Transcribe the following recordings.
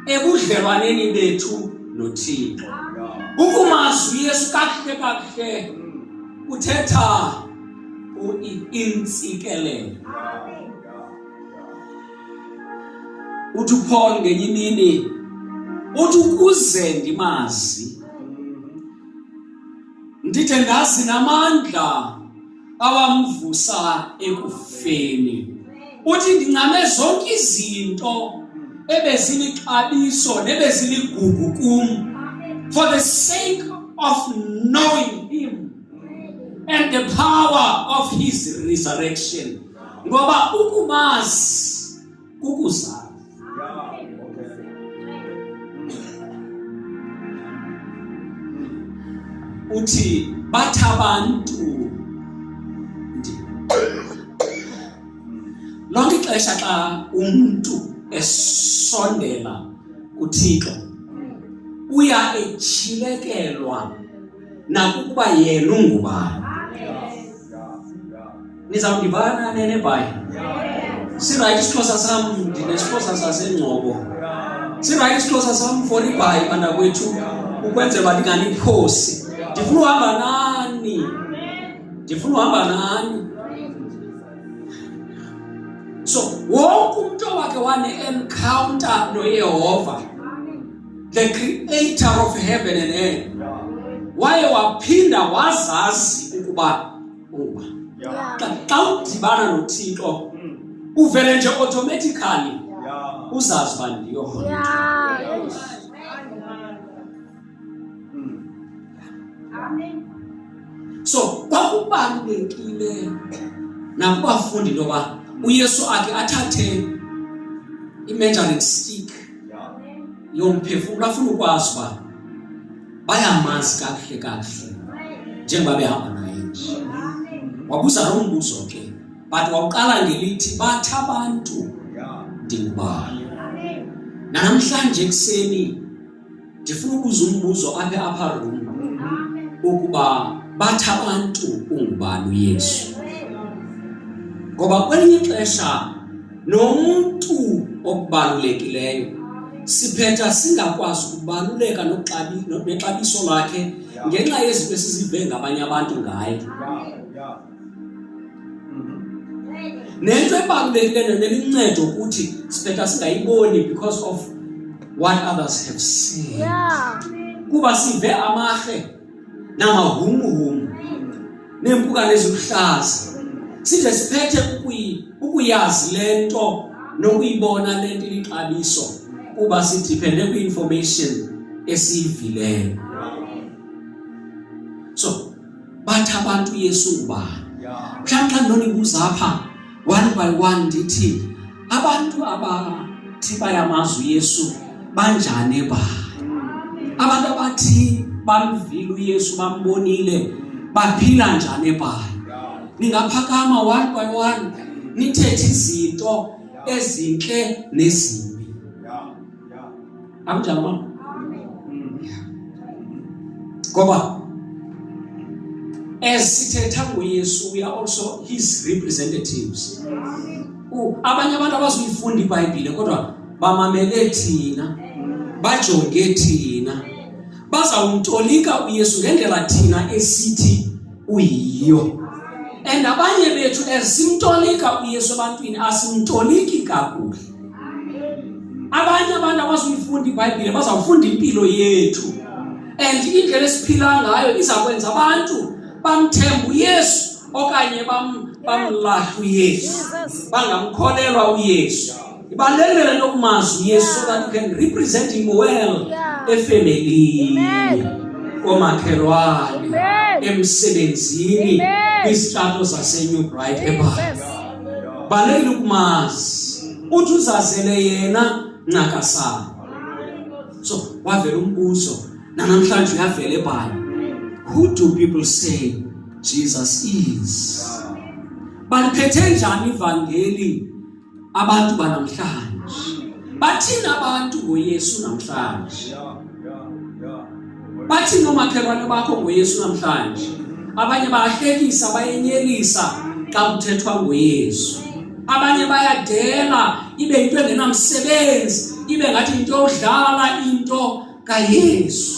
ebudlelwaneni bethu noThixo ukumazwi Yesu kakuhle kakuhle uthetha uintsikelelo uthi uPaul ngenye imini uthi ukuze ndimazi ndithe ndazi namandla awamvusa ekufeni uthi ndincame zonke izinto ebezilixabiso nebeziligugu kum for the sake of knowing him and the power of his resurrection ngoba ukumazi kukuzala uthi bathi abantu lonke ixesha xa umntu esondela kuthixo uya etyhilekelwa nakukuba yena ungubani nizawundivana nenebhayi sirayithi isixhosa sam ndinesixhosa sasengcobo sirayithi isixhosa sam for ibhayi bantakwethu ukwenzela uba ndinganiphosi ndifuna uhamba nani ndifuna uhamba nani so wonke umntu owakhe wane-encounter noyehova the creator of heaven and earth waye waphinda wazazi ukuba uba xa udibana nothixo hmm. uvele nje automatically uzazi uba ndiyo so kwakubalulekile nakubafundi into yoba uyesu akhe athathe i-measuring stick lo mphefumulo afuna ukwazi uba bayamazi kakuhle kakuhle njengoba behamba naye nje wabuza loo mbuzo ke but wawuqala ngelithi bathi abantu ndingubani nanamhlanje ekuseni ndifuna ubuza umbuzo apha apha room ukuba bathi abantu ungubani uyesu ngoba kwelinye ixesha nomntu okubalulekileyo siphetha singakwazi ukubaluleka nexabiso lakhe ngenxa yezinto esizive ngabanye abantu ngaye nento ebalulekileyo nento eluncedo ukuthi sibhetha singayiboni because of what others have seen yeah. kuba sive amahle namahumuhumu neempukane eziluhlaza size siphethe ukuyazi le nto nokuyibona le nto ilixabiso kuba sidiphende kwi-information esiyivileyo bathi abantu Yesu ngubani mhlawumbi xa ndonibuza apha one by one ndithi abantu abathi bayamazi uYesu banjani ebani abantu abathi bamvile uYesu bambonile baphila njani ebani ningaphakama one by one nithethe izinto ezinhle nezimbi Amjamaa. Ngoba as sithetha ngoYesu we are also his representatives. Abanye abantu abazuyifunda iBhayibhile kodwa bamamele thina. Bajonge thina. Bazawumtolika uYesu ngendlela thina esithi uyiyo. And abanye bethu as simtolika uYesu ebantwini asimtoliki kakuhle. abanye abantu abazuyifunda ibhayibhile bazawufunda impilo yethu and indlela esiphila ngayo iza kwenza abantu bamthembe uyesu okanye bamlahle uyesu bangamkholelwa uyesu ibalulekile le nto kumazi uyesu so that you can represent him well efemelini komakhelwane emsebenzini kwizitrato zasenew bright ebala balekile ukumazi uthi uzazele yena ncakasana so wavela umbuzo nanamhlanje uyavela ebhayibhile who do people say Jesus is baliphethe njani ivangeli abantu banamhlanje bathina abantu ngoYesu namhlanje bathini oomakhelwane bakho ngoyesu namhlanje abanye bayahlekisa bayenyelisa xa kuthethwa ngoyesu abanye bayadela ibe yinto engenamsebenzi ibe ngathi yinto yodlala into kayesu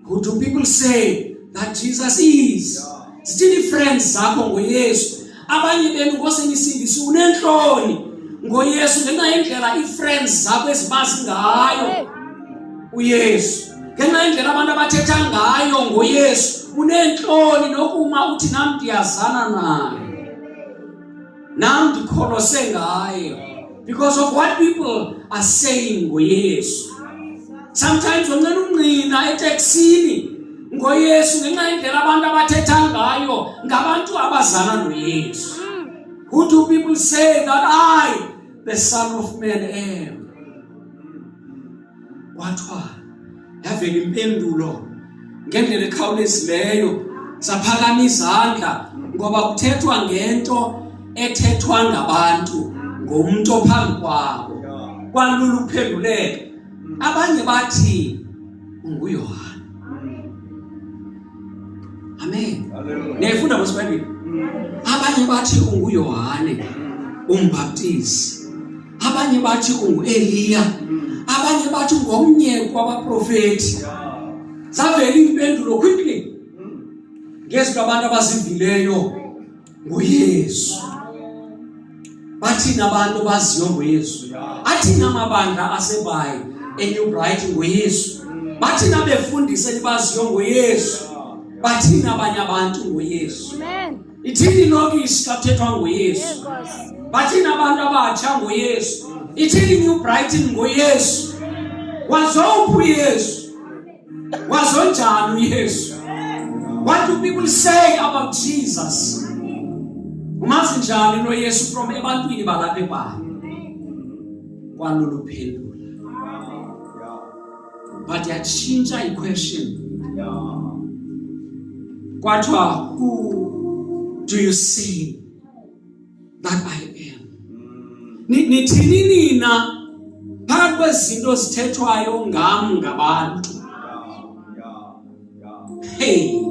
who do people say that jesus is zithini i-friends zakho ngoyesu abanye benu ngose nisindise unentloni ngoyesu ngenxa yendlela ii-friends zakho ezibazi ngayo uyesu ngenxa yendlela abantu abathetha ngayo ngoyesu unentloni nokuma uthi nam ndiyazana naye nam ndikholose ngaye because of what people are saying ngoyesu sometimes unqena ungqina eteksini ngoyesu ngenxa yendlela abantu abathetha ngayo ngabantu abazana noyesu who do people say that i the son of man am kwathiwa yavela impendulo ngendlela ekhawulezileyo saphakama izandla ngoba kuthethwa ngento ethethwa ngabantu ngomntu ophambi kwabo kwalula ukuphenduleka abanye bathi unguyohane amen niyayifunda mos bayibhile abanye bathi unguyohane umbaptisi abanye bathi unguEliya abanye bathi ngomnye kwabaprofeti zavela impendulo quickly ngezwi labantu abazivileyo nguYesu bathina abantu baziyo ngoYesu athina amabandla asebayi eNew Bright ngoYesu bathina befundise libaziyo ngoYesu bathina abanye abantu ngoYesu amen Ithini ilokishi xa kuthethwa ngoYesu? Bathini abantu abatsha ngoYesu? Ithini New Brighton ngoYesu? Wazophi uYesu? Wazonjani uYesu? What do people say about Jesus? Umazi njani lo Yesu from ebantwini balapha eBhayibhile? Kwalolu phendula. but yatshintsha iquestion kwathiwa who do you see that i am nithini nina phakathi kwezinto zithethwayo ngam ngabantu hey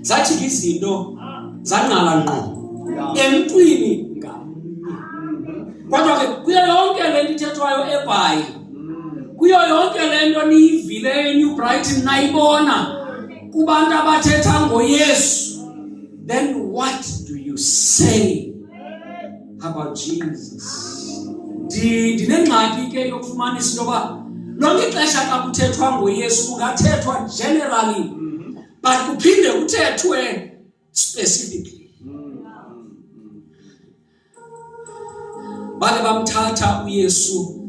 zajika izinto zangqala ngqo emntwini ngamnye kodwa ke kuyo yonke le nto ithethwayo ebhayi kuyo yonke le nto niyivileyo enew brighton nayibona kubantu abathetha ngoyesu then what do you say How about Jesus? Ndinengxaki ke yokufumanisa into yoba lonke ixesha xa kuthethwa ngoYesu kungathethwa generally mm-hmm. but kuphinde kuthethwe specifically. bake bamthatha uyesu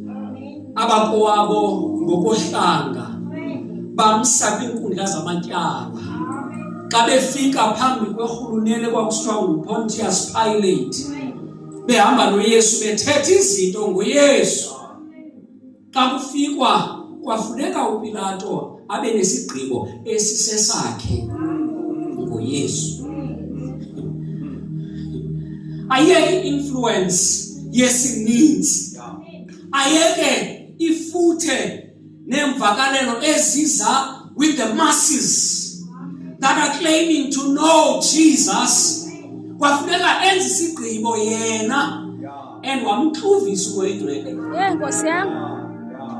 abakowabo ngokohlanga bamsa kwiinkundla zamatyala xa befika phambi kwerhulunele kwakusithiwa ngupontius pilate behamba noyesu bethetha izinto ngoyesu xa kufikwa kwafuneka upilato abe nesigqibo esisesakhe ngoyesu ayeke i-influence yesininzi ayeke ifuthe neemvakalelo eziza with the masses that are claiming to know jesus kwafuneka enze isigqibo yena and wamxuvisa uwedwele ye nkosi yam